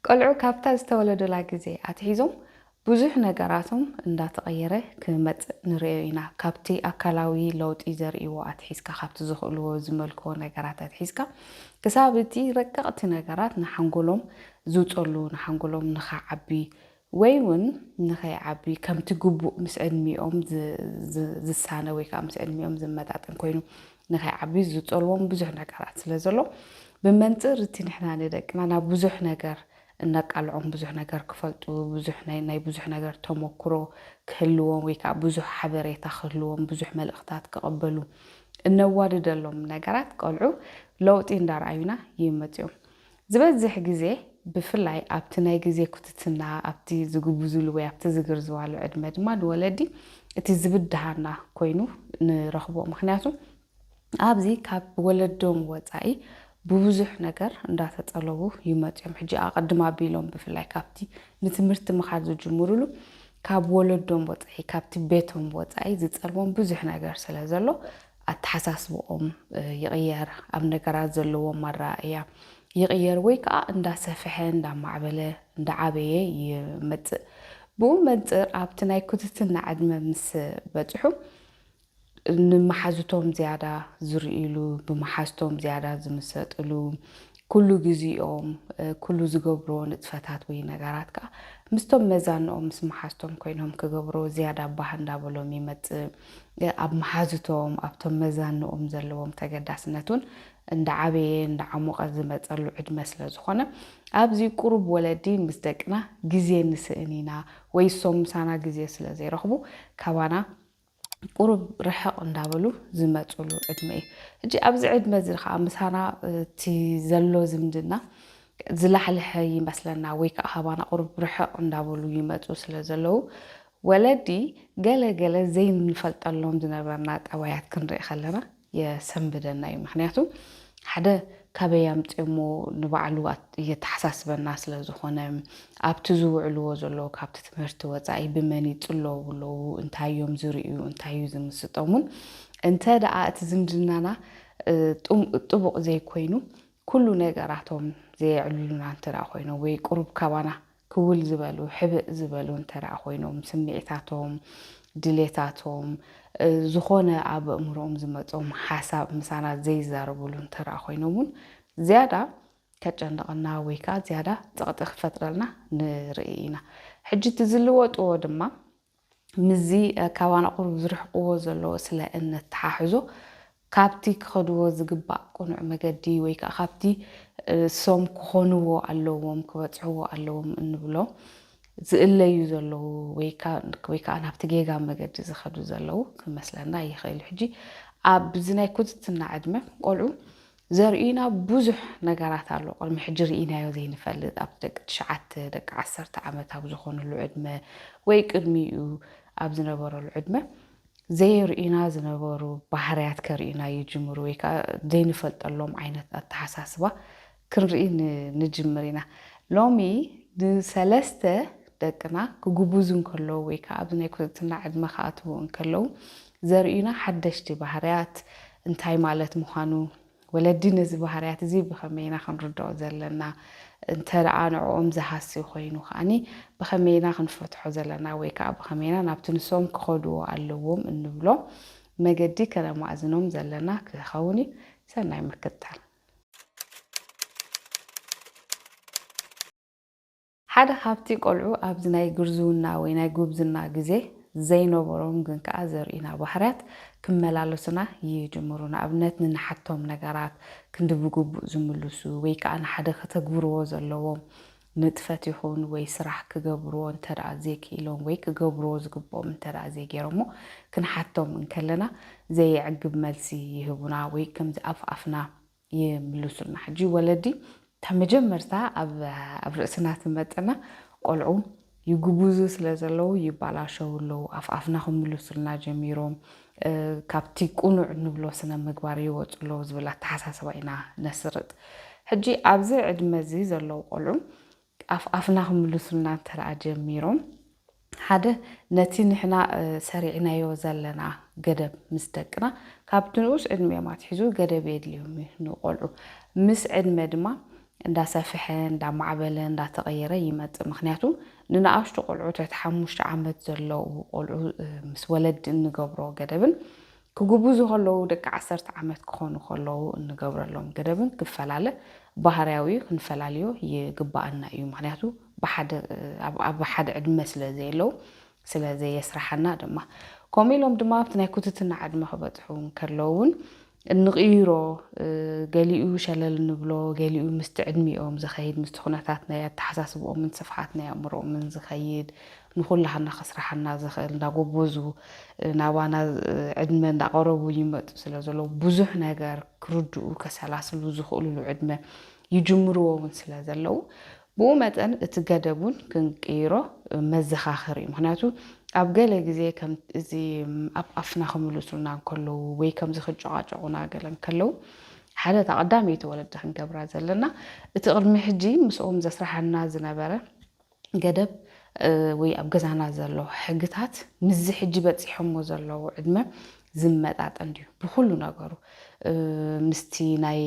ቆልዑ ካብታ ዝተወለዱላ ግዜ ኣትሒዞም ብዙሕ ነገራቶም እንዳተቐየረ ክመጽእ ንርእዮ ኢና። ካብቲ ኣካላዊ ለውጢ ዘርእይዎ ኣትሒዝካ፣ ካብቲ ዝኽእልዎ ዝመልክዎ ነገራት ኣትሒዝካ ክሳብ እቲ ረቀቕቲ ነገራት ንሓንጎሎም ዝውጸሉ፣ ንሓንጎሎም ንኽዓቢ ወይ ውን ንኸይዓብዩ ከምቲ ግቡእ ምስ ዕድሚኦም ዝሳነ ወይ ከዓ ምስ ዕድሚኦም ዝመጣጠን ኮይኑ ንኸይዓብዩ ዝፀልዎም ብዙሕ ነገራት ስለ ዘሎ ብመንፅር እቲ ንሕና ንደቅና ናብ ብዙሕ ነገር እነቃልዖም ብዙሕ ነገር ክፈልጡ ብዙሕ ናይ ናይ ብዙሕ ነገር ተሞክሮ ክህልዎም ወይ ከዓ ብዙሕ ሓበሬታ ክህልዎም ብዙሕ መልእኽታት ክቐበሉ እነዋድደሎም ነገራት ቆልዑ ለውጢ እንዳርኣዩና ይመፅኦም። ዝበዝሕ ግዜ ብፍላይ ኣብቲ ናይ ግዜ ኩትትና ኣብቲ ዝግብዙሉ ወይ ኣብቲ ዝግርዝዋሉ ዕድመ ድማ ንወለዲ እቲ ዝብድሃና ኮይኑ ንረኽቦ ምኽንያቱ ኣብዚ ካብ ወለዶም ወጻኢ ብብዙሕ ነገር እንዳተጠለቡ ይመጹ እዮም ሕጂ ኣቐድም ኣቢሎም ብፍላይ ካብቲ ንትምህርቲ ምኻድ ዝጅምሩሉ ካብ ወለዶም ወጻኢ ካብቲ ቤቶም ወጻኢ ዝጸልዎም ብዙሕ ነገር ስለ ዘሎ ኣተሓሳስብኦም ይቕየር፣ ኣብ ነገራት ዘለዎም ኣረኣእያ ይቕየር ወይ ከኣ እንዳሰፍሐ እንዳማዕበለ እንዳዓበየ ይመጽእ። ብኡ መንጽር ኣብቲ ናይ ኩትትና ዕድመ ምስ በጽሑ ንመሓዙቶም ዝያዳ ዝርእይሉ፣ ብመሓዝቶም ዝያዳ ዝምሰጥሉ፣ ኩሉ ግዜኦም፣ ኩሉ ዝገብርዎ ንጥፈታት ወይ ነገራት ከኣ ምስቶም መዛንኦም፣ ምስ መሓዝቶም ኮይኖም ክገብርዎ ዝያዳ ባህ እንዳበሎም ይመጽእ። ኣብ መሓዙቶም፣ ኣብቶም መዛንኦም ዘለዎም ተገዳስነት ውን እንዳዓበየ እንዳዓሞቐ ዝመጸሉ ዕድመ ስለ ዝኾነ፣ ኣብዚ ቁሩብ ወለዲ ምስ ደቅና ግዜ ንስእን ኢና ወይ እሶም ምሳና ግዜ ስለ ዘይረኽቡ ካባና ቁሩብ ርሕቕ እንዳበሉ ዝመፅሉ ዕድመ እዩ። ሕጂ ኣብዚ ዕድመ እዚ ከዓ ምሳና እቲ ዘሎ ዝምድና ዝላሕለሐ ይመስለና ወይ ከዓ ካባና ቁሩብ ርሕቕ እንዳበሉ ይመፁ ስለ ዘለዉ ወለዲ ገለ ገለ ዘይንፈልጠሎም ዝነበርና ጠባያት ክንርኢ ከለና የሰንብደና እዩ ምክንያቱ ሓደ ካበይ ኣምጽዮሞ ንባዕሉ የተሓሳስበና ስለ ዝኾነ ኣብቲ ዝውዕልዎ ዘለዉ ካብቲ ትምህርቲ ወጻኢ ብመን ይጽለዉ ኣለዉ እንታይ እዮም ዝርእዩ እንታይ እዩ ዝምስጦሙን እንተ ደኣ እቲ ዝምድናና ጥቡቕ ዘይኮይኑ ኩሉ ነገራቶም ዘየዕልሉና እንተ ደኣ ኮይኖም ወይ ቁሩብ ካባና ክውል ዝበሉ፣ ሕብእ ዝበሉ እንተደኣ ኮይኖም፣ ስምዒታቶም፣ ድሌታቶም፣ ዝኾነ ኣብ ኣእምሮኦም ዝመጾም ሓሳብ ምሳና ዘይዛረቡሉ እንተደኣ ኮይኖም እውን ዝያዳ ከጨንቐና ወይ ከኣ ዝያዳ ጸቕጢ ክፈጥረልና ንርኢ ኢና። ሕጂ እቲ ዝልወጥዎ ድማ ምስዚ ካባና ቁሩብ ዝርሕቕዎ ዘለዎ ስለ እነተሓሕዞ፣ ካብቲ ክኸድዎ ዝግባእ ቅኑዕ መገዲ ወይ ከኣ ካብቲ እሶም ክኾንዎ ኣለዎም ክበጽሕዎ ኣለዎም እንብሎ ዝእለዩ ዘለዉ ወይ ከኣ ናብቲ ጌጋ መገዲ ዝኸዱ ዘለዉ ክመስለና ይኽእል'ዩ። ሕጂ ኣብዚ ናይ ኩትትና ዕድመ ቆልዑ ዘርእዩና ብዙሕ ነገራት ኣሎ ቅድሚ ሕጂ ርኢናዮ ዘይንፈልጥ ኣብ ደቂ ትሽዓተ ደቂ ዓሰርተ ዓመት ኣብ ዝኾኑሉ ዕድመ ወይ ቅድሚኡ ኣብ ዝነበረሉ ዕድመ ዘየርእዩና ዝነበሩ ባህርያት ከርእዩና ይጅምሩ ወይ ከዓ ዘይንፈልጠሎም ዓይነት ኣተሓሳስባ ክንርኢ ንጅምር ኢና ሎሚ ንሰለስተ ደቅና ክጉቡዙ እንከለዉ ወይ ከዓ ኣብዚ ናይ ኩርትና ዕድመ ክኣትዉ እንከለዉ ዘርእዩና ሓደሽቲ ባህርያት እንታይ ማለት ምዃኑ፣ ወለዲ ነዚ ባህርያት እዚ ብኸመይ ኢና ክንርድኦ ዘለና፣ እንተ ደኣ ንዕኦም ዝሃሲ ኮይኑ ከኣ ብኸመይ ኢና ክንፈትሖ ዘለና ወይ ከኣ ብኸመይ ኢና ናብቲ ንሶም ክኸድዎ ኣለዎም እንብሎ መገዲ ከነማእዝኖም ዘለና ክኸውን እዩ። ሰናይ ምክትታል። ሓደ ካብቲ ቆልዑ ኣብዚ ናይ ግርዝውና ወይ ናይ ጉብዝና ግዜ ዘይነበሮም ግን ከኣ ዘርእዩና ባህርያት ክመላለሱና ይጅምሩ። ንኣብነት ንንሓቶም ነገራት ክንዲ ብግቡእ ዝምልሱ ወይ ከኣ ንሓደ ከተግብርዎ ዘለዎም ንጥፈት ይኹን ወይ ስራሕ ክገብርዎ እንተደኣ ዘይክኢሎም ወይ ክገብርዎ ዝግብኦም እንተደኣ ዘይገይሮሞ ክንሓቶም እንከለና ዘየዕግብ መልሲ ይህቡና ወይ ከምዚ ኣፍ ኣፍና ይምሉሱልና ሕጂ ወለዲ እታ መጀመርታ ኣብ ርእስና ትመጽና ቆልዑ ይጉቡዙ ስለ ዘለዉ ይባላሸዉ ኣለዉ ኣፍ ኣፍና ክምሉሱልና ጀሚሮም ካብቲ ቁኑዕ እንብሎ ስነ ምግባር ይወጹ ኣለዉ ዝብል ኣተሓሳስባ ኢና ነስርጽ ሕጂ ኣብዚ ዕድመ እዚ ዘለዉ ቆልዑ ኣፍ ኣፍና ክምልሱልና እንተደኣ ጀሚሮም፣ ሓደ ነቲ ንሕና ሰሪዕናዮ ዘለና ገደብ ምስ ደቅና ካብቲ ንኡስ ዕድሚኦም ኣትሒዙ ገደብ የድልዮም እዩ። ንቖልዑ ምስ ዕድመ ድማ እንዳሰፍሐ፣ እንዳማዕበለ፣ እንዳተቐየረ ይመጽእ። ምኽንያቱ ንንኣሽቱ ቆልዑ ትሕቲ ሓሙሽተ ዓመት ዘለዉ ቆልዑ ምስ ወለዲ እንገብሮ ገደብን ክጉብዙ ከለዉ ደቂ ዓሰርተ ዓመት ክኾኑ ከለዉ እንገብረሎም ገደብን ክፈላለ ባህርያዊ እዩ፣ ክንፈላልዮ ይግበኣና እዩ። ምኽንያቱ ብሓደ ኣብ ሓደ ዕድመ ስለ ዘየለዉ ስለ ዘየስርሓና ድማ። ከምኡ ኢሎም ድማ ኣብቲ ናይ ኩትትና ዕድመ ክበጽሑ እንከለዉ እውን እንቕይሮ ገሊኡ ሸለል እንብሎ ገሊኡ ምስቲ ዕድሚኦም ዝኸይድ ምስቲ ኩነታት ናይ ኣተሓሳስብኦምን ስፍሓት ናይ ኣእምሮኦምን ዝኸይድ ንኹላህና ከስራሓና ዝኽእል እንዳጎቦዙ ናባና ዕድመ እንዳቐረቡ ይመጡ ስለ ዘለዉ ብዙሕ ነገር ክርድኡ ከሰላስሉ ዝኽእሉሉ ዕድመ ይጅምርዎ እውን ስለ ዘለዉ ብኡ መጠን እቲ ገደብ እውን ክንቅይሮ መዘኻኸሪ እዩ ምክንያቱ ኣብ ገለ ግዜ ከም እዚ ኣብ ኣፍና ክምልሱልና እንከለዉ ወይ ከምዚ ክጨቓጨቑና ገለ እንከለዉ ሓደ እታ ቀዳመይቲ ወለዲ ክንገብራ ዘለና እቲ ቅድሚ ሕጂ ምስኦም ዘስራሓና ዝነበረ ገደብ ወይ ኣብ ገዛና ዘሎ ሕግታት ምስዚ ሕጂ በጺሖሞ ዘለዉ ዕድመ ዝመጣጠን ድዩ ብኹሉ ነገሩ ምስቲ ናይ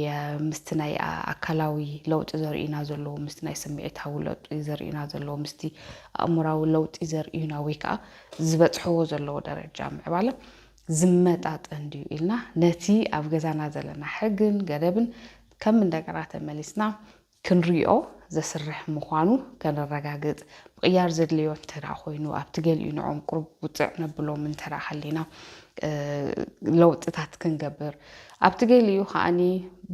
ምስቲ ናይ ኣካላዊ ለውጢ ዘርእዩና ዘለዉ ምስቲ ናይ ስምዒታዊ ለውጢ ዘርእዩና ዘለዉ ምስቲ ኣእምራዊ ለውጢ ዘርእዩና ወይ ከዓ ዝበጽሕዎ ዘለዉ ደረጃ ምዕባለ ዝመጣጠን ድዩ ኢልና ነቲ ኣብ ገዛና ዘለና ሕግን ገደብን ከም እንደገና ተመሊስና ክንሪኦ ዘስርሕ ምዃኑ ከነረጋግጽ፣ ምቕያር ዘድልዮ እንተደኣ ኮይኑ፣ ኣብቲ ገሊኡ ንዕኦም ቁሩብ ውጽዕ ነብሎም እንተደኣ ሃሊና ለውጥታት ክንገብር፣ ኣብቲ ገሊኡ ከኣ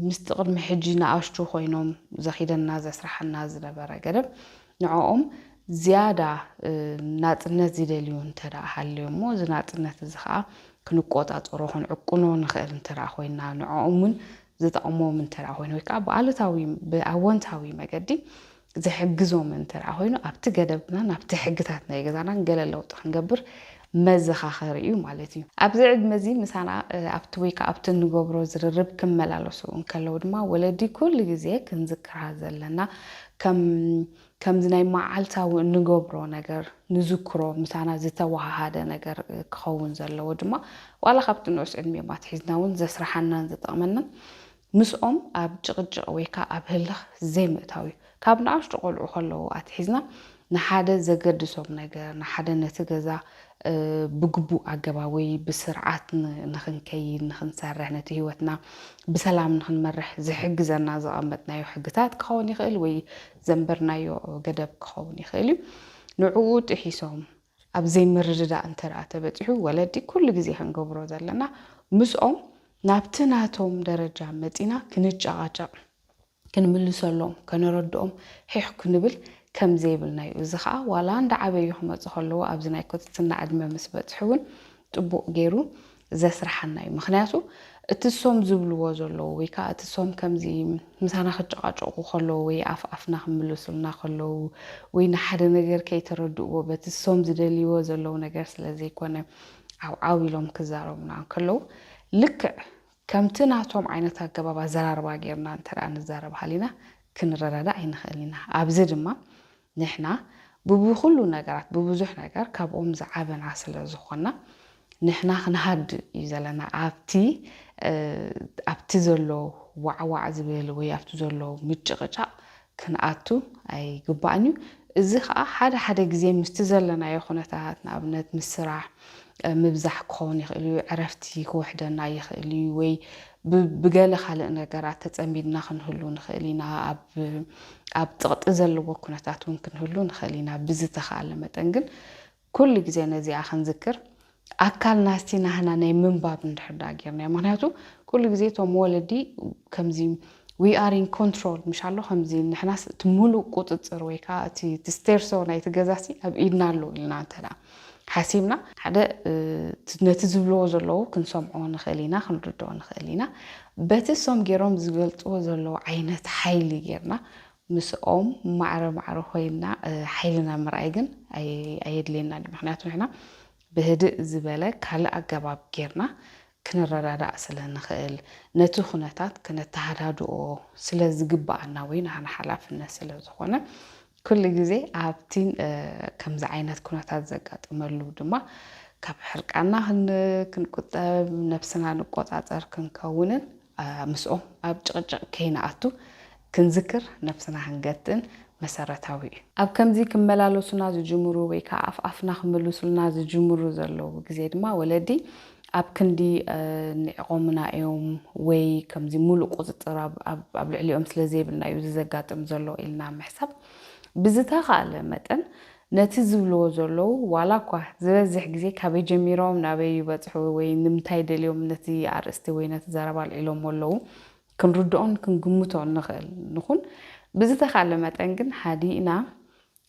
ምስቲ ቅድሚ ሕጂ ንኣሽቱ ኮይኖም ዘኺደና ዘስርሓና ዝነበረ ገደብ ንዕኦም ዝያዳ ናጽነት ዝደልዩ እንተደኣ ሃልዮም'ሞ እዚ ናጽነት እዚ ከኣ ክንቆጻጸሮ ክንዕቅኖ ንኽእል እንተደኣ ኮይና ንዕኦም እውን ዝጠቕሞም እንተደኣ ኮይኑ ወይ ከኣ ብኣሉታዊ ብኣወንታዊ መገዲ ዝሕግዞም እንተደኣ ኮይኑ ኣብቲ ገደብናን ኣብቲ ሕግታት ናይ ገዛናን ገለ ለውጢ ክንገብር መዘኻኸሪ እዩ ማለት እዩ። ኣብዚ ዕድመ እዚ ምሳና ኣብቲ ወይ ከኣ ኣብቲ እንገብሮ ዝርርብ ክመላለሱ እንከለዉ ድማ ወለዲ ኩሉ ግዜ ክንዝክራ ዘለና ከም ከምዚ ናይ መዓልታዊ እንገብሮ ነገር ንዝክሮ ምሳና ዝተወሃሃደ ነገር ክኸውን ዘለዎ ድማ ዋላ ካብቲ ንኡስ ዕድሜኦም ኣትሒዝና እውን ዘስርሓናን ዝጠቕመናን ምስኦም ኣብ ጭቕጭቕ ወይ ከኣ ኣብ ህልኽ ዘይምእታው እዩ። ካብ ንኣሽቱ ቆልዑ ከለዉ ኣትሒዝና ንሓደ ዘገድሶም ነገር ንሓደ ነቲ ገዛ ብግቡእ ኣገባብ ወይ ብስርዓት ንኽንከይድ ንኽንሰርሕ ነቲ ህይወትና ብሰላም ንኽንመርሕ ዝሕግዘና ዘቐመጥናዮ ሕግታት ክኸውን ይኽእል ወይ ዘንበርናዮ ገደብ ክኸውን ይኽእል እዩ። ንዕኡ ጥሒሶም ኣብ ዘይምርድዳእ እንተድኣ ተበጺሑ፣ ወለዲ ኩሉ ግዜ ክንገብሮ ዘለና ምስኦም ናብቲ ናቶም ደረጃ መጺና ክንጨቓጨቕ፣ ክንምልሰሎም፣ ከነረድኦም ሒሕ ክንብል ከም ዘይብልና እዩ። እዚ ከኣ ዋላ እንዳዓበዩ ክመጹ ከለዉ ኣብዚ ናይ ኩትትና ዕድመ ምስ በጽሑ እውን ጥቡቕ ገይሩ ዘስርሓና እዩ ምክንያቱ እቲ እሶም ዝብልዎ ዘለዉ ወይ ካኣ እቲ እሶም ከምዚ ምሳና ክጨቃጨቁ ከለዉ ወይ ኣፍ ኣፍና ክምልሱልና ከለዉ ወይ ንሓደ ነገር ከይተረድእዎ በቲ እሶም ዝደልይዎ ዘለዉ ነገር ስለ ዘይኮነ ዓው ዓው ኢሎም ክዛረቡና እንከለዉ ልክዕ ከምቲ ናቶም ዓይነት ኣገባብ ኣዘራርባ ጌርና እንተ ንዛረብ ሃሊና ክንረዳዳእ ኣይንክእልን ኢና ኣብዚ ድማ ንሕና ብብኹሉ ነገራት ብብዙሕ ነገር ካብኦም ዝዓበና ስለ ዝኾና ንሕና ክንሃድእ እዩ ዘለና ኣብቲ ኣብቲ ዘሎ ዋዕዋዕ ዝብል ወይ ኣብቲ ዘሎ ምጭቕጫቕ ክንኣቱ ኣይግባእን እዩ እዚ ኸኣ ሓደ ሓደ ግዜ ምስቲ ዘለናዮ ኩነታት ንኣብነት ምስ ስራሕ ምብዛሕ ክኸውን ይኽእል እዩ ዕረፍቲ ክውሕደና ይኽእል እዩ ወይ ብገለ ካልእ ነገራት ተጸሚድና ክንህሉ ንኽእል ኢና፣ ኣብ ጽቕጢ ዘለዎ ኩነታት እውን ክንህሉ ንኽእል ኢና፣ ብዝተኻእለ መጠን ግን ኩሉ ግዜ ነዚኣ ክንዝክር ኣካል ናዝቲ ናህና ናይ ምንባብ እንድሕር ደኣ ጌርናዮ ምኽንያቱ ኩሉ ግዜ እቶም ወለዲ ከምዚ ዊ ኣር ኢን ኮንትሮል ምሽ ኣሎ ከምዚ ንሕናስ እቲ ምሉእ ቁጽጽር ወይ ከዓ እቲ ስቴርሶ ናይቲ ገዛሲ ኣብ ኢድና ኣሎ ኢልና እንተ ሓሲብና ሓደ ነቲ ዝብልዎ ዘለዉ ክንሰምዖ ንኽእል ኢና ክንርድኦ ንኽእል ኢና በቲ እሶም ጌሮም ዝገልጽዎ ዘለዉ ዓይነት ሓይሊ ጌርና ምስኦም ማዕረ ማዕረ ኮይንና ሓይልና ምርኣይ ግን ኣየድልየናን እዩ ምኽንያቱ ንሕና ብህድእ ዝበለ ካልእ ኣገባብ ጌርና ክንረዳዳእ ስለ ንኽእል፣ ነቲ ኩነታት ከነተሃዳድኦ ስለ ዝግብኣና ወይ ናህና ሓላፍነት ስለ ዝኾነ፣ ኩሉ ግዜ ኣብቲ ከምዚ ዓይነት ኩነታት ዘጋጥመሉ ድማ ካብ ሕርቃንና ክንቁጠብ፣ ነብስና ንቆጻጸር ክንከውንን ምስኦም ኣብ ጭቕጭቕ ከይንኣቱ ክንዝክር ነብስና ክንገትን መሰረታዊ እዩ። ኣብ ከምዚ ክመላለሱና ዝጅምሩ ወይ ከኣ ኣፍ ኣፍና ክምልሱልና ዝጅምሩ ዘለዉ ግዜ ድማ ወለዲ ኣብ ክንዲ ኒዕቆሙና እዮም ወይ ከምዚ ምሉእ ቁጽጽር ኣብ ልዕሊኦም ስለ ዘይብልና እዩ እዚ ዘጋጥም ዘሎ ኢልና ምሕሳብ ብዝተኻእለ መጠን ነቲ ዝብልዎ ዘለዉ ዋላ እኳ ዝበዝሕ ግዜ ካበይ ጀሚሮም ናበይ ይበጽሑ ወይ ንምንታይ ደልዮም ነቲ ኣርእስቲ ወይ ነቲ ዘረባ ኣልዒሎሞ ኣለዉ ክንርድኦን ክንግምቶ እንኽእል ንኹን፣ ብዝተኻእለ መጠን ግን ሃዲእና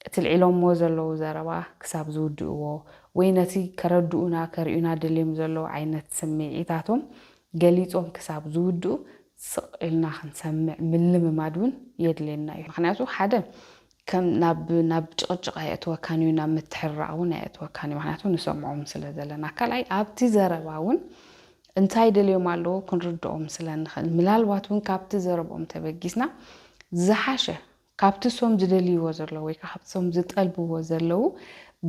እቲ ኣልዒሎምዎ ዘለዉ ዘረባ ክሳብ ዝውድእዎ ወይ ነቲ ከረድኡና ከርእዩና ደልዮም ዘለዉ ዓይነት ስምዒታቶም ገሊጾም ክሳብ ዝውድኡ ስቕ ኢልና ክንሰምዕ ምልምማድ እውን የድልየና እዩ። ምኽንያቱ ሓደ ከም ናብ ናብ ጭቕጭቕ ኣየእትወካን እዩ፣ ናብ ምትሕርራቕ እውን ኣየእትወካን እዩ፣ ምኽንያቱ ንሰምዖም ስለ ዘለና። ካልኣይ ኣብቲ ዘረባ እውን እንታይ ደልዮም ኣለዉ ክንርድኦም ስለ እንኽእል፣ ምላልባት እውን ካብቲ ዘረብኦም ተበጊስና ዝሓሸ ካብቲ እሶም ዝደልይዎ ዘለዉ ወይ ከኣ ካብቲ እሶም ዝጠልብዎ ዘለዉ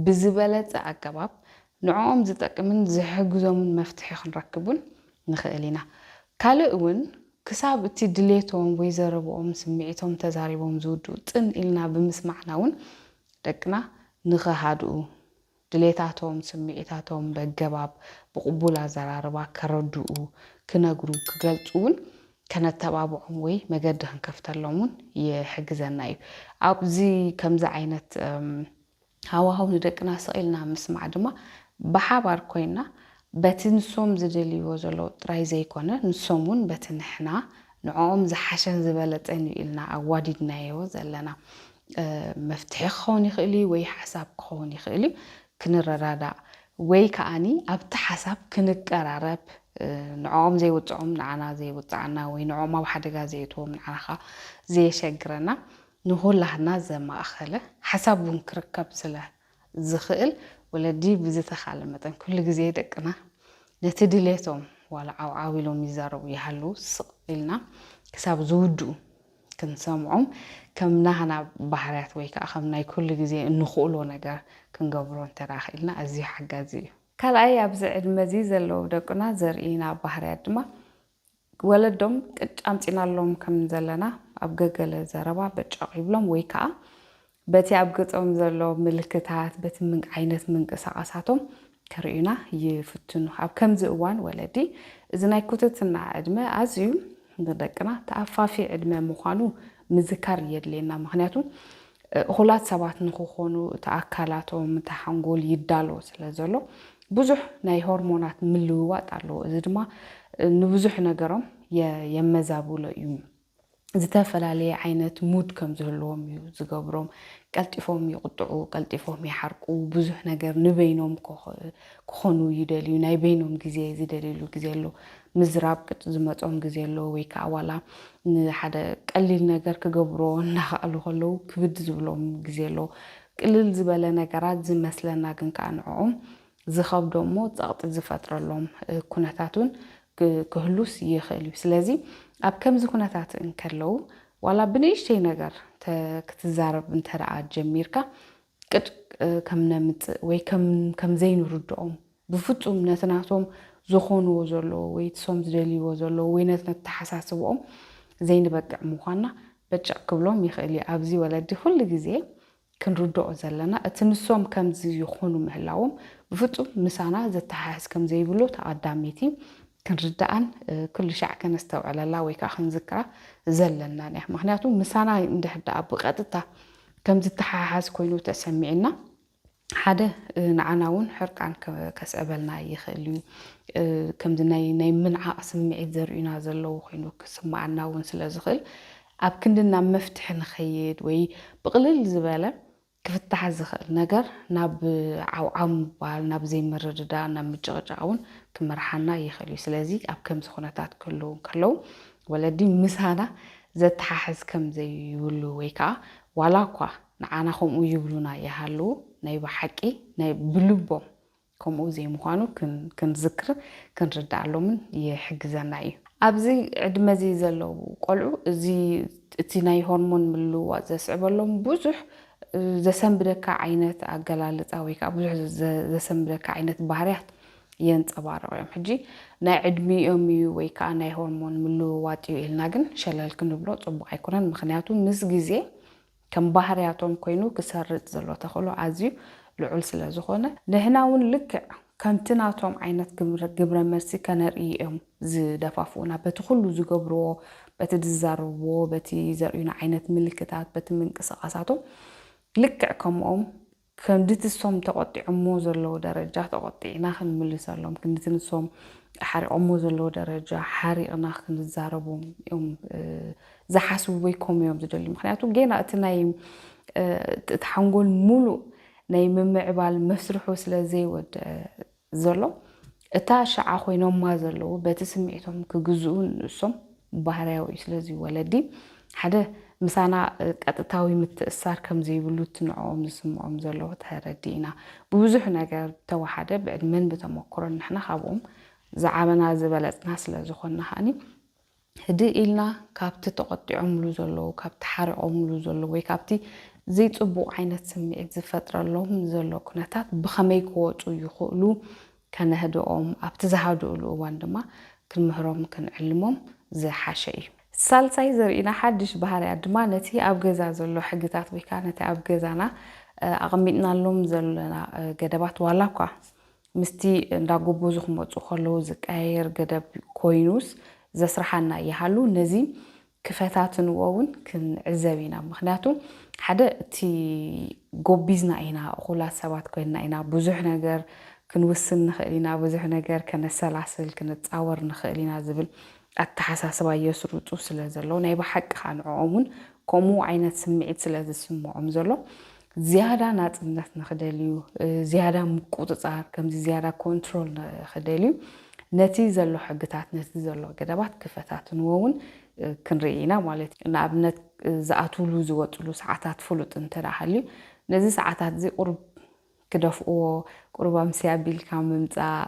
ብዝበለጸ ኣገባብ ንዕኦም ዝጠቅምን ዝሕግዞምን መፍትሒ ክንረክብ እውን ንኽእል ኢና። ካልእ እውን ክሳብ እቲ ድሌቶም ወይ ዘረብኦም ስምዒቶም ተዛሪቦም ዝውድኡ ጽን ኢልና ብምስማዕና እውን ደቅና ንኸሃድኡ፣ ድሌታቶም፣ ስምዒታቶም በገባብ ብቕቡል ኣዘራርባ ከረድኡ፣ ክነግሩ፣ ክገልጹ እውን ከነተባብዖም ወይ መገዲ ክንከፍተሎም እውን ይሕግዘና እዩ። ኣብዚ ከምዚ ዓይነት። ሃዋህው ንደቅና ስቕ ኢልና ምስማዕ ድማ ብሓባር ኮይንና በቲ ንሶም ዝደልይዎ ዘለዉ ጥራይ ዘይኮነ ንሶም እውን በቲ ንሕና ንዕኦም ዝሓሸን ዝበለጸን እዩ ኢልና ኣዋዲድናዮ ዘለና መፍትሒ ክኸውን ይኽእል እዩ ወይ ሓሳብ ክኸውን ይኽእል እዩ ክንረዳዳእ ወይ ከኣኒ ኣብቲ ሓሳብ ክንቀራረብ ንዕኦም ዘይውጽዖም ንዓና ዘይውጽዓና ወይ ንዕኦም ኣብ ሓደጋ ዘየእትዎም ንዓና ከኣ ዘየሸግረና ንኹላህና ዘማእኸለ ሓሳብ እውን ክርከብ ስለ ዝኽእል ወለዲ ብዝተኻለ መጠን ኩሉ ግዜ ደቅና ነቲ ድሌቶም ዋላ ዓው ዓው ኢሎም ይዛረቡ ይሃልዉ ስቕ ኢልና ክሳብ ዝውድኡ ክንሰምዖም ከም ናህና ባህርያት ወይ ከዓ ከም ናይ ኩሉ ግዜ እንኽእሎ ነገር ክንገብሮ እንተድኣ ክኢልና ኣዝዩ ሓጋዚ እዩ። ካልኣይ ኣብዚ ዕድመ እዚ ዘለዉ ደቅና ዘርእዩና ባህርያት ድማ ወለዶም ቅጭ ኣምጺእናሎም ከም ዘለና ኣብ ገገለ ዘረባ በጨቕ ይብሎም ወይ ከኣ በቲ ኣብ ገጾም ዘሎ ምልክታት፣ በቲ ዓይነት ምንቅሳቓሳቶም ክርእዩና ይፍትኑ። ኣብ ከምዚ እዋን ወለዲ እዚ ናይ ኩትትና ዕድመ ኣዝዩ ንደቅና ተኣፋፊ ዕድመ ምዃኑ ምዝካር የድልየና። ምኽንያቱ እኹላት ሰባት ንኽኾኑ እቲ ኣካላቶም፣ እቲ ሓንጎል ይዳሎ ስለ ዘሎ ብዙሕ ናይ ሆርሞናት ምልውዋጥ ኣለዎ። እዚ ድማ ንብዙሕ ነገሮም የመዛብሎ እዩ። ዝተፈላለየ ዓይነት ሙድ ከም ዝህልዎም እዩ ዝገብሮም። ቀልጢፎም ይቕጥዑ፣ ቀልጢፎም ይሓርቁ፣ ብዙሕ ነገር ንበይኖም ክኾኑ ይደልዩ፣ ናይ በይኖም ግዜ ዝደልዩሉ ግዜ ኣሎ። ምዝራብ ቅጭ ዝመጾም ግዜ ኣሎ ወይ ከኣ ዋላ ንሓደ ቀሊል ነገር ክገብርዎ እናኸኣሉ ከለዉ ክብድ ዝብሎም ግዜ ኣሎ። ቅልል ዝበለ ነገራት ዝመስለና ግን ከኣ ንዕኦም ዝኸብዶም እሞ ጸቕጢ ዝፈጥረሎም ኩነታት እውን ክህሉስ ይኽእል እዩ። ስለዚ ኣብ ከምዚ ኩነታት እንከለዉ ዋላ ብንእሽተይ ነገር ክትዛረብ እንተደኣ ጀሚርካ ቅጭ ከም ነምጽእ ወይ ከም ዘይንርድኦም ብፍጹም ነቲ ናቶም ዝኾንዎ ዘለዎ ወይ ትሶም ዝደልይዎ ዘለዎ ወይ ነቲ ነተሓሳስብኦም ዘይንበቅዕ ምዃንና በጨቕ ክብሎም ይኽእል እዩ። ኣብዚ ወለዲ ኩሉ ግዜ ክንርድኦ ዘለና እቲ ንሶም ከምዚ ይኾኑ ምህላዎም ብፍጹም ምሳና ዘተሓሕዝ ከም ዘይብሉ ተቐዳሚቲ ክንርድኣን ኩሉ ሻዕ ከነስተውዕለላ ወይ ከኣ ክንዝክራ ዘለናን እያ። ምኽንያቱ ምሳና እንድሕር ደኣ ብቐጥታ ከም ዝተሓሓዝ ኮይኑ ተሰሚዑና ሓደ ንዓና እውን ሕርቃን ከስዕበልና ይኽእል እዩ። ከምዚ ናይ ናይ ምንዓቕ ስምዒት ዘርእዩና ዘለዉ ኮይኑ ክስምዓና እውን ስለ ዝኽእል ኣብ ክንዲ ናብ መፍትሒ ንኸይድ ወይ ብቕልል ዝበለ ክፍታሕ ዝኽእል ነገር ናብ ዓውዓው ምባል፣ ናብ ዘይምርድዳእ፣ ናብ ምጭቕጫቕ እውን ክመርሓና ይኽእል እዩ። ስለዚ ኣብ ከምዚ ኩነታት ክህልዉ እንከለዉ ወለዲ ምሳና ዘተሓሕዝ ከም ዘይብሉ ወይ ከኣ ዋላ እኳ ንዓና ከምኡ ይብሉና ይሃልዉ ናይ ብሓቂ ናይ ብልቦም ከምኡ ዘይምዃኑ ክንዝክርን ክንርድኣሎምን ይሕግዘና እዩ። ኣብዚ ዕድመ እዚ ዘለዉ ቆልዑ እዚ እቲ ናይ ሆርሞን ምልውዋጥ ዘስዕበሎም ብዙሕ ዘሰንብደካ ዓይነት ኣገላልጻ ወይ ከዓ ብዙሕ ዘሰንብደካ ዓይነት ባህርያት የንጸባርቑ እዮም። ሕጂ ናይ ዕድሚኦም እዩ ወይ ከዓ ናይ ሆርሞን ምልውዋጥ እዩ ኢልና ግን ሸለል ክንብሎ ጽቡቕ ኣይኮነን። ምክንያቱ ምስ ግዜ ከም ባህርያቶም ኮይኑ ክሰርጽ ዘሎ ተኽእሎ ኣዝዩ ልዑል ስለ ዝኾነ፣ ንህና'ውን ልክዕ ከምቲ ናቶም ዓይነት ግብረመልሲ ከነርእይ'ዮም ዝደፋፍኡና። በቲ ኩሉ ዝገብርዎ፣ በቲ ዝዛረብዎ፣ በቲ ዘርእዩና ዓይነት ምልክታት፣ በቲ ምንቅስቓሳቶም ልክዕ ከምኦም ክንድቲ እሶም ተቖጢዖሞ ዘለዉ ደረጃ ተቖጢዕና ክንምልሰሎም፣ ክንድቲ ንሶም ሓሪቖሞ ዘለዉ ደረጃ ሓሪቕና ክንዛረቦም እዮም ዝሓስቡ ወይ ከምኡ እዮም ዝደልዩ። ምኽንያቱ ጌና እቲ ናይ እቲ ሓንጎል ሙሉእ ናይ ምምዕባል መስርሑ ስለ ዘይወድአ፣ ዘሎ እታ ሽዓ ኮይኖማ ዘለዉ በቲ ስምዒቶም ክግዝኡ ንእሶም ባህርያዊ እዩ ስለዚ ወለዲ ሓደ ምሳና ቀጥታዊ ምትእስሳር ከም ዘይብሉ እቲ ንዕኦም ዝስምዖም ዘሎ ተረዲእና ብብዙሕ ነገር ብተወሓደ ብዕድመን ብተመኩሮን ንሕና ካብኦም ዝዓበና ዝበለጽና ስለ ዝኾንና ከኣኒ ህድእ ኢልና ካብቲ ተቖጢዖምሉ ዘለዉ፣ ካብቲ ሓሪቖምሉ ዘለዉ ወይ ካብቲ ዘይጽቡቕ ዓይነት ስምዒት ዝፈጥረሎም ዘሎ ኩነታት ብኸመይ ክወጹ ይኽእሉ ከነህድኦም፣ ኣብቲ ዝሃድኡሉ እዋን ድማ ክንምህሮም ክንዕልሞም ዝሓሸ እዩ። ሳልሳይ ዘርእና ሓድሽ ባህርያት ድማ ነቲ ኣብ ገዛ ዘሎ ሕግታት ወይ ከኣ ነቲ ኣብ ገዛና ኣቐሚጥናሎም ዘለና ገደባት ዋላኳ ምስቲ እንዳጎበዙ ክመጹ ከለዉ ዝቀያየር ገደብ ኮይኑስ ዘስርሓና ይሃሉ ነዚ ክፈታትንዎ ውን ክንዕዘብ ኢና ምኽንያቱ ሓደ እቲ ጎቢዝና ኢና እኹላት ሰባት ኮይንና ኢና ብዙሕ ነገር ክንውስን ንኽእል ኢና ብዙሕ ነገር ከነሰላስል ክንጻወር ንኽእል ኢና ዝብል ኣተሓሳስባ የስርጹ ስለ ዘለዉ ናይ ብሓቂ ከኣ ንዕኦም ውን ከምኡ ዓይነት ስምዒት ስለ ዝስምዖም ዘሎ ዝያዳ ናጽነት ንኽደልዩ፣ ዝያዳ ምቁጽጻር፣ ከምዚ ዝያዳ ኮንትሮል ንኽደልዩ፣ ነቲ ዘሎ ሕግታት፣ ነቲ ዘሎ ገደባት ክፈታትንዎ እውን ክንርኢ ኢና ማለት እዩ። ንኣብነት ዝኣትዉሉ ዝወጽሉ ሰዓታት ፍሉጥ እንተድኣ ሃልዩ፣ ነዚ ሰዓታትዚ ቁሩብ ክደፍኡዎ፣ ቁሩብ ኣምስያ ኣቢልካ ምምጻእ፣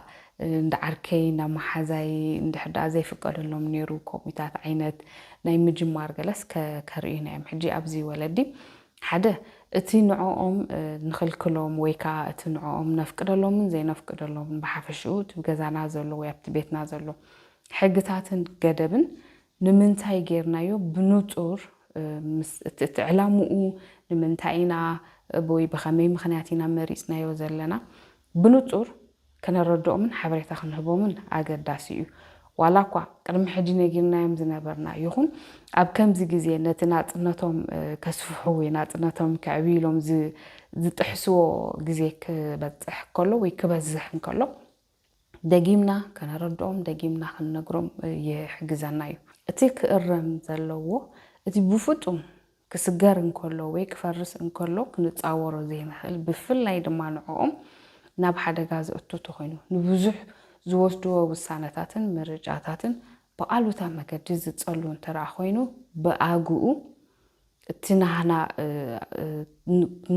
እንዳ ዓርከይ፣ እንዳ መሓዛይ እንድሕር ድኣ ዘይፍቀደሎም ነይሩ ከምኡታት ዓይነት ናይ ምጅማር ገለስ ከርእዩና እዮም። ሕጂ ኣብዚ ወለዲ ሓደ እቲ ንዕኦም ንኽልክሎም ወይ ከኣ እቲ ንዕኦም ነፍቅደሎምን ዘይነፍቅደሎምን ብሓፈሽኡ እቲ ገዛና ዘሎ ወይ ኣብቲ ቤትና ዘሎ ሕግታትን ገደብን ንምንታይ ጌርናዮ ብንጹር ምስ እቲ እቲ ዕላምኡ ንምንታይ ኢና ወይ ብኸመይ ምኽንያት ኢና መሪጽናዮ ዘለና ብንጹር ከነረድኦምን ሓበሬታ ክንህቦምን ኣገዳሲ እዩ። ዋላኳ ቅድሚ ሕጂ ነጊርናዮም ዝነበርና ይኹን ኣብ ከምዚ ግዜ ነቲ ናጽነቶም ከስፍሑ ወይ ናጽነቶም ከዕብዩ ኢሎም ዝጥሕስዎ ግዜ ክበጽሕ ከሎ ወይ ክበዝሕ እንከሎ ደጊምና ከነረድኦም ደጊምና ክንነግሮም ይሕግዘና እዩ። እቲ ክእረም ዘለዎ እቲ ብፍጡም ክስገር እንከሎ ወይ ክፈርስ እንከሎ ክንጻወሮ ዘይንኽእል ብፍላይ ድማ ንዕኦም ናብ ሓደጋ ዘእቱ ተኾይኑ ንብዙሕ ዝወስድዎ ውሳነታትን ምርጫታትን ብኣሉታ መገዲ ዝጸሉ እንተደኣ ኮይኑ ብኣግኡ እቲ ናህና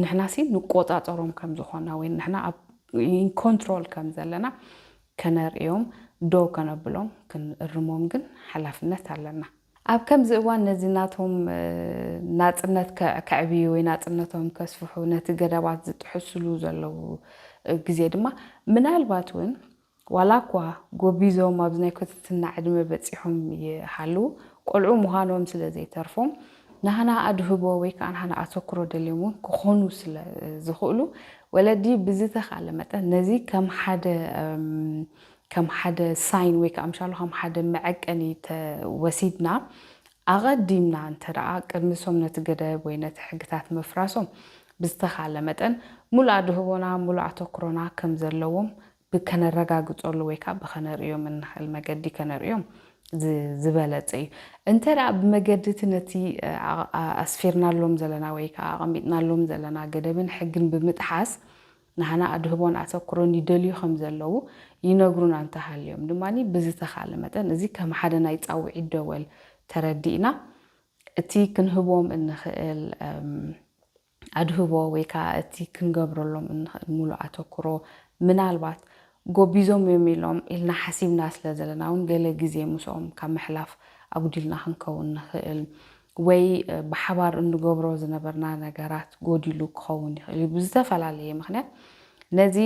ንሕናሲ ንቆጻጸሮም ከም ዝኾና ወይ ንሕና ኣብ ኢን ኮንትሮል ከም ዘለና ከነርእዮም ደው ከነብሎም ክንእርሞም ግን ሓላፍነት ኣለና። ኣብ ከምዚ እዋን ነዚ ናቶም ናጽነት ከዕብዩ ወይ ናጽነቶም ከስፍሑ ነቲ ገደባት ዝጥሕስሉ ዘለዉ ግዜ ድማ ምናልባት እውን ዋላኳ ጎቢዞም ኣብዚ ናይ ኮትትና ዕድመ በጺሖም ይሃልዉ ቆልዑ ምዃኖም ስለ ዘይተርፎም ናህና ኣድህቦ ወይ ከኣ ናህና ኣተኩሮ ደልዮም እውን ክኾኑ ስለ ዝኽእሉ ወለዲ ብዝተኻለ መጠን ነዚ ከም ሓደ ከም ሓደ ሳይን ወይ ከኣ ምሻሉ ከም ሓደ መዐቀኒ ተወሲድና ኣቐዲምና እንተደኣ ቅድሚሶም ነቲ ገደብ ወይ ነቲ ሕግታት ምፍራሶም ብዝተኻለ መጠን ምሉእ ኣድህቦና ምሉእ ኣተኩሮና ከም ዘለዎም ብከነረጋግጸሉ ወይ ከኣ ብከነርእዮም እንኸእል መገዲ ከነርእዮም ዝበለጸ እዩ። እንተደኣ ብመገዲ እቲ ነቲ ኣስፊርናሎም ዘለና ወይ ከኣ ኣቐሚጥናሎም ዘለና ገደብን ሕግን ብምጥሓስ፣ ንዓና ኣድህቦን ኣተኩሮን ይደልዩ ከም ዘለዉ ይነግሩና እንተ ሃልዮም ድማ፣ ብዝተኻእለ መጠን እዚ ከም ሓደ ናይ ጻውዒት ደወል ተረዲእና፣ እቲ ክንህቦም እንኽእል ኣድህቦ ወይ ከኣ እቲ ክንገብረሎም እንኽእል ምሉእ ኣተኩሮ ምናልባት ጎቢዞም እዮም ኢሎም ኢልና ሓሲብና ስለ ዘለና ውን ገለ ግዜ ምስኦም ካብ ምሕላፍ ኣጉዲልና ክንከውን ንኽእል ወይ ብሓባር እንገብሮ ዝነበርና ነገራት ጎዲሉ ክኸውን ይኽእል እዩ ብዝተፈላለየ ምኽንያት ነዚ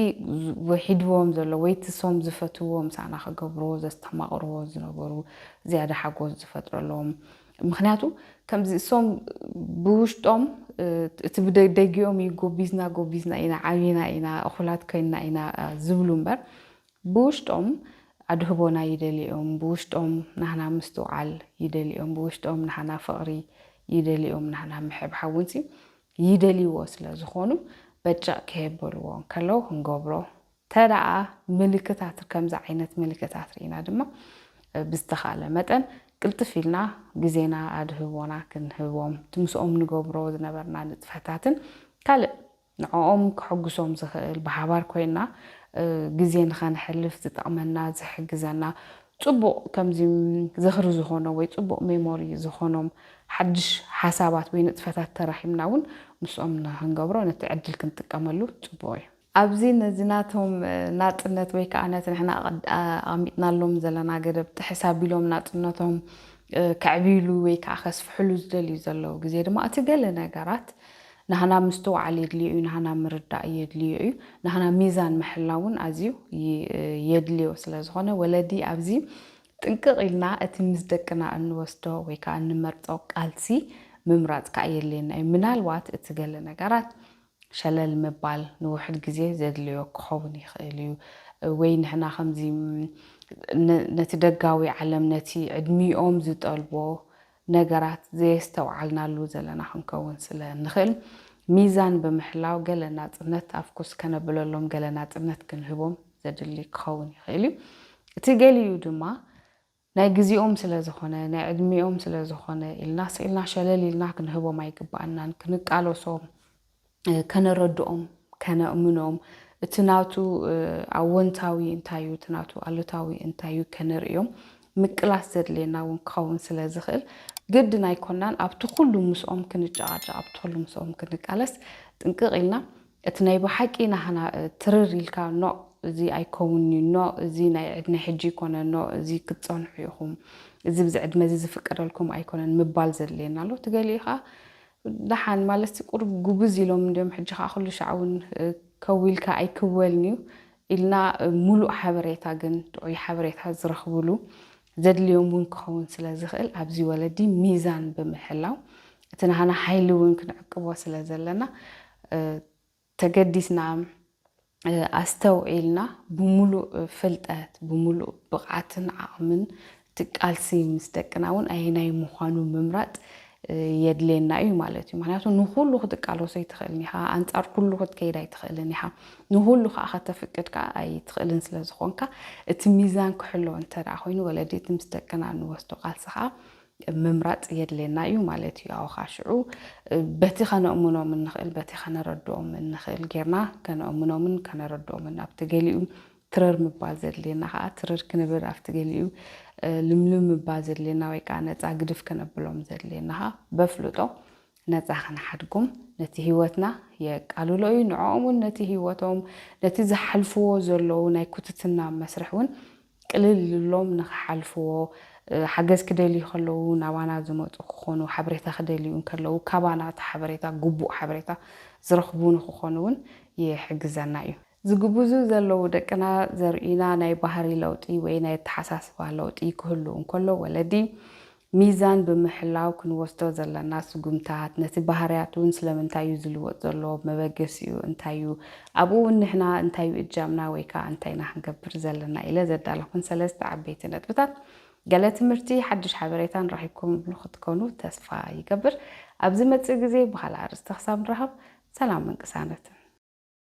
ሒድዎም ዘሎ ወይ እቲ ሶም ዝፈትውዎ ምሳና ክገብርዎ ዘስተማቕርዎ ዝነበሩ ዝያዳ ሓጎስ ዝፈጥረሎም ምክንያቱ ከምዚ እሶም ብውሽጦም እቲ ብደጊኦም እዩ ጎቢዝና ጎቢዝና ኢና ዓቢና ኢና እኹላት ኮይንና ኢና ዝብሉ እምበር ብውሽጦም ኣድህቦና ይደልኦም ብውሽጦም ናህና ምስትውዓል ይደልኦም ብውሽጦም ናህና ፍቕሪ ይደልኦም ናህና ምሕብሓብ እውን ይደልይዎ ስለ ዝኾኑ በጨቕ ከየበልዎ እንከለዉ ክንገብሮ ተደኣ ምልክታት ከምዚ ዓይነት ምልክታት ርኢና ድማ ብዝተኻእለ መጠን ቅልጥፍ ኢልና ግዜና ኣድህቦና ክንህቦም እቲ ምስኦም ንገብሮ ዝነበርና ንጥፈታትን ካልእ ንዕኦም ከሕጉሶም ዝኽእል ብሓባር ኮይና ግዜ ንኸነሕልፍ ዝጠቕመና ዝሕግዘና ጽቡቕ ከምዚ ዝኽሪ ዝኾኖ ወይ ጽቡቕ ሜሞሪ ዝኾኖም ሓድሽ ሓሳባት ወይ ንጥፈታት ተራኺብና እውን ምስኦም ንኽንገብሮ ነቲ ዕድል ክንጥቀመሉ ጽቡቕ እዩ። ኣብዚ ነዚ ናቶም ናጽነት ወይ ከኣ ነቲ ንሕና ኣቐሚጥናሎም ዘለና ገደብ ጥሕስ ኣቢሎም ናጽነቶም ከዕብዩሉ ወይ ከኣ ከስፍሑሉ ዝደልዩ ዘለዉ ግዜ ድማ እቲ ገለ ነገራት ናህና ምስትውዓል የድልዮ እዩ፣ ናህና ምርዳእ የድልዮ እዩ፣ ናህና ሚዛን ምሕላው እውን ኣዝዩ የድልዮ ስለ ዝኾነ ወለዲ ኣብዚ ጥንቅቕ ኢልና እቲ ምስ ደቅና እንወስዶ ወይ ከኣ እንመርጾ ቃልሲ ምምራጽ ከኣ የድልየና እዩ። ምናልባት እቲ ገለ ነገራት ሸለል ምባል ንውሑድ ግዜ ዘድለዮ ክኸውን ይኽእል እዩ፣ ወይ ንሕና ከምዚ ነቲ ደጋዊ ዓለም ነቲ ዕድሚኦም ዝጠልቦ ነገራት ዘየስተውዓልናሉ ዘለና ክንከውን ስለ እንኽእል ሚዛን ብምሕላው ገለ ናጽነት ኣብ ኩስ ከነብለሎም ገለ ናጽነት ክንህቦም ዘድሊ ክኸውን ይኽእል እዩ። እቲ ገሊኡ ድማ ናይ ግዜኦም ስለ ዝኾነ፣ ናይ ዕድሜኦም ስለ ዝኾነ ኢልና ስኢልና ሸለል ኢልና ክንህቦም ኣይግብኣናን። ክንቃለሶም፣ ከነረድኦም፣ ከነእምኖም፣ እቲ ናቱ ኣዎንታዊ እንታይ እዩ፣ እቲ ናቱ ኣሉታዊ እንታይ እዩ ከነርእዮም ምቅላስ ዘድልየና እውን ክኸውን ስለ ዝኽእል ግድን ኣይኮናን ኣብቲ ኩሉ ምስኦም ክንጨቓጨቕ፣ ኣብቲ ኩሉ ምስኦም ክንቃለስ ጥንቅቕ ኢልና እቲ ናይ ብሓቂ ናህና ትርር ኢልካ ኖእ እዚ ኣይከውንን እዩ ኖእ እዚ ናይ ዕድመይ ሕጂ ኣይኮነን ኖእ እዚ ክትጸንሑ ኢኹም እዚ ብዚ ዕድመ እዚ ዝፍቀደልኩም ኣይኮነን ምባል ዘድልየና ኣሎ እቲ ገሊኡ ከኣ ደሓን ማለትሲ ቁሩብ ጉብዝ ኢሎም እንድዮም ሕጂ ከኣ ኩሉ ሻዕ እውን ከው ኢልካ ኣይክወልን እዩ ኢልና ሙሉእ ሓበሬታ ግን ጥዑይ ሓበሬታ ዝረኽብሉ ዘድልዮም እውን ክኸውን ስለ ዝኽእል ኣብዚ ወለዲ ሚዛን ብምሕላው እቲ ናህና ሓይሊ እውን ክንዕቅቦ ስለ ዘለና ተገዲስና ኣስተውዒልና ብምሉእ ፍልጠት ብምሉእ ብቕዓትን ዓቕምን እቲ ቃልሲ ምስ ደቅና እውን ኣየናይ ምዃኑ ምምራፅ የድልየና እዩ ማለት እዩ። ምክንያቱ ንኹሉ ክትቃለሶ ኣይትኽእልን ኢኻ፣ ኣንጻር ኩሉ ክትከይድ ኣይትኽእልን ኢኻ፣ ንኹሉ ከዓ ከተፍቅድ ከዓ ኣይትኽእልን ስለ ዝኾንካ እቲ ሚዛን ክሕሎ እንተ ኮይኑ ወለዲ እቲ ምስ ደቅና ንወስዶ ቃልሲ ከዓ ምምራፅ የድልየና እዩ ማለት እዩ። ኣውኻ ሽዑ በቲ ከነእምኖም እንኽእል በቲ ከነረድኦም እንኽእል ጌርና ከነእምኖምን ከነረድኦምን ኣብቲ ገሊኡ ትረር ምባል ዘድልየና ከኣ ትርር ክንብል ኣብቲ ገሊኡ ልምልም ምባል ዘድልየና ወይ ከኣ ነጻ ግድፍ ከነብሎም ዘድልየና ከኣ በፍልጦ ነጻ ክንሓድጎም ነቲ ህይወትና የቃልሎ እዩ ንዕኦም እውን ነቲ ህይወቶም ነቲ ዝሓልፍዎ ዘለዉ ናይ ኩትትና መስርሕ እውን ቅልል ልሎም ንክሓልፍዎ ሓገዝ ክደልዩ ከለዉ ናባና ዝመጹ ክኾኑ ሓበሬታ ክደልዩ እንከለዉ ካባና እቲ ሓበሬታ ግቡእ ሓበሬታ ዝረኽቡ ንክኾኑ እውን ይሕግዘና እዩ። ዝግቡዙ ዘለዉ ደቅና ዘርእዩና ናይ ባህሪ ለውጢ ወይ ናይ ኣተሓሳስባ ለውጢ ክህሉ እንከሎ ወለዲ ሚዛን ብምሕላው ክንወስዶ ዘለና ስጉምታት ነቲ ባህርያት እውን ስለምንታይ እዩ ዝልወጥ ዘሎ መበገሲኡ እንታይ እዩ ኣብኡ እውን ንሕና እንታይ እዩ እጃምና ወይ ከዓ እንታይ ኢና ክንገብር ዘለና ኢለ ዘዳለኹን ሰለስተ ዓበይቲ ነጥብታት ገለ ትምህርቲ ሓድሽ ሓበሬታን ረኺብኩምሉ ክትኮኑ ተስፋ ይገብር ኣብ ዝመፅእ ግዜ ብካልእ ኣርእስቲ ክሳብ ንራኸብ ሰላምን ቅሳነትን